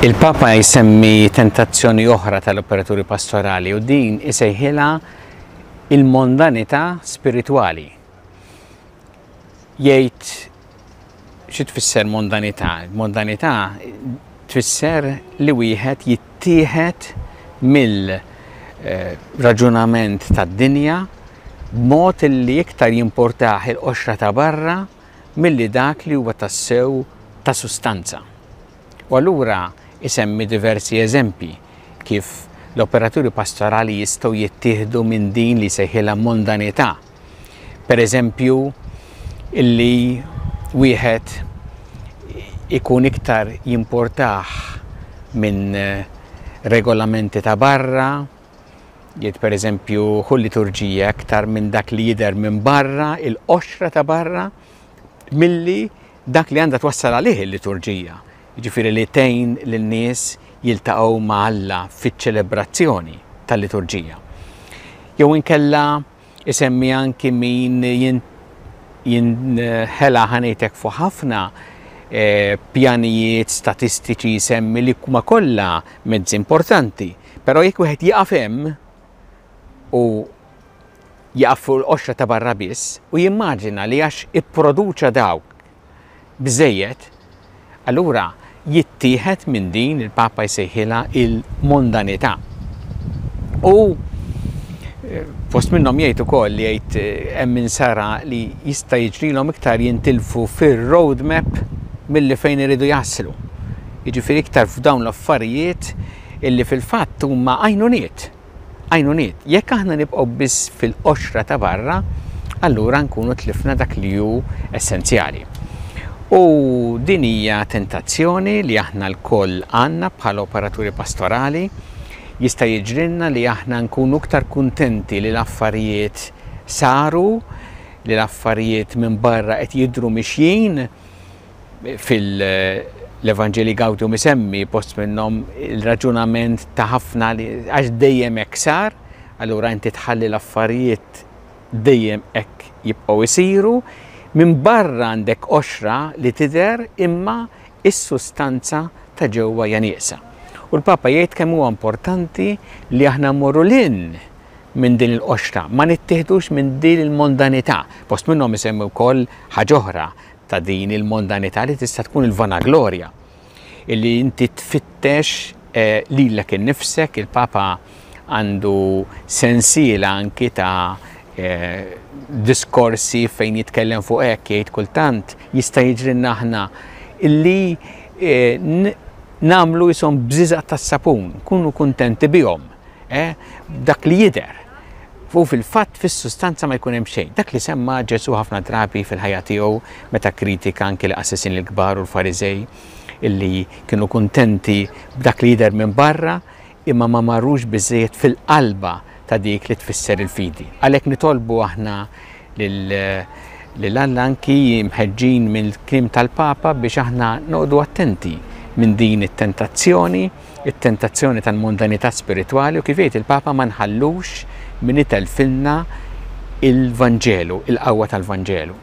Il-Papa jsemmi tentazzjoni oħra tal-operaturi pastorali u din isejħilha il-mondanità spiritwali. jgħid xi tfisser mondanità. Mondanità tfisser li wieħed jittieħed mill-raġunament eh, tad-dinja b'mod li iktar jimportaħ il-qoxra ta' barra milli dak li huwa tassew ta' sustanza. U allura isemmi diversi eżempji kif l-operaturi pastorali jistgħu jittieħdu minn din li seħilha mondanità Pereżempju, li wieħed ikun iktar jimportah minn regolamenti ta' barra, jgħid pereżempju hu liturġija iktar minn dak li jidher minn barra, il-qoxra ta' barra, milli dak li għandha twassal għalih il-liturġija, jiġifieri li tgħin lin-nies jiltaqgħu ma' Alla fiċ-ċelebrazzjoni tal-liturġija. Jew inkella, isemmi anki min jinħela ħa ngħidlek fuq ħafna pjanijiet statistiċi jsemmi li huma kollha mezzi importanti, però jekk wieħed jieqaf hemm u jieqaf fuq il-qoxra ta' barra biss u jimmaġina li għax ipproduċa dawk Biżżejjed? Allura jittieħed minn din il-Papa jsejħilha il-mondanità. U eh, fost minnhom jgħid ukoll li jgħid eh, hemm insara li jista' jiġrilhom iktar jintilfu fir-roadmap milli fejn iridu jaslu. Jiġifieri iktar f'dawn l-affarijiet illi fil-fatt huma għajnuniet għajnuniet. Jekk aħna nibqgħu biss fil-qoxra ta' barra, allura nkunu tlifna dak li hu essenzjali. U din hija tentazzjoni li aħna lkoll għandna bħala operaturi pastorali, jista' jiġrilna li aħna nkunu iktar kuntenti li l-affarijiet saru, li l-affarijiet minn barra qed jidhru mixjin, Fil-Evanġelji Gaudium isemmi post minnhom il-raġunament ta' ħafna li għax dejjem hekk sar, allura inti tħalli l-affarijiet dejjem hekk jibqgħu jsiru, minn barra għandek qoxra li tidher imma s-sustanza ta' ġewwa hija nieqsa. U l-Papa jgħid kemm huwa importanti li aħna mmorru 'l hinn minn din il-qoxra, ma nittieħdux minn din il-mondanità. Post minnhom isemmi wkoll ħaġa oħra, ta' din il-mondanità li tista' tkun il-vanaglorja, illi inti tfittex lilek innifsek, il-Papa għandu sensiela anki ta' diskorsi fejn jitkellem fuq hekk, jgħid kultant jista' jiġrilna aħna illi nagħmlu qishom bżiżaq tas-sapun, nkunu kuntenti bihom. eh, dak li jidher u fil-fatt fis-sustanza ma jkun hemm xejn. Dak li semma Ġesu ħafna drabi fil-ħajja tiegħu meta kritika anki l-qassisin l-kbar u l-Fariżej illi kienu kuntenti b'dak li jidher minn barra imma ma marrux biżejjed fil-qalba ta' dik li tfisser il-fidi. Għalhekk nitolbu aħna lil Alla anki mħeġġin mill-klim tal-Papa biex aħna noqogħdu attenti minn din it-tentazzjoni it-tentazzjoni tal-mondanità spiritwali u kif jgħid il-Papa ma nħallux min itelfilna il-Vanġelu, il-qawwa tal-Vanġelu.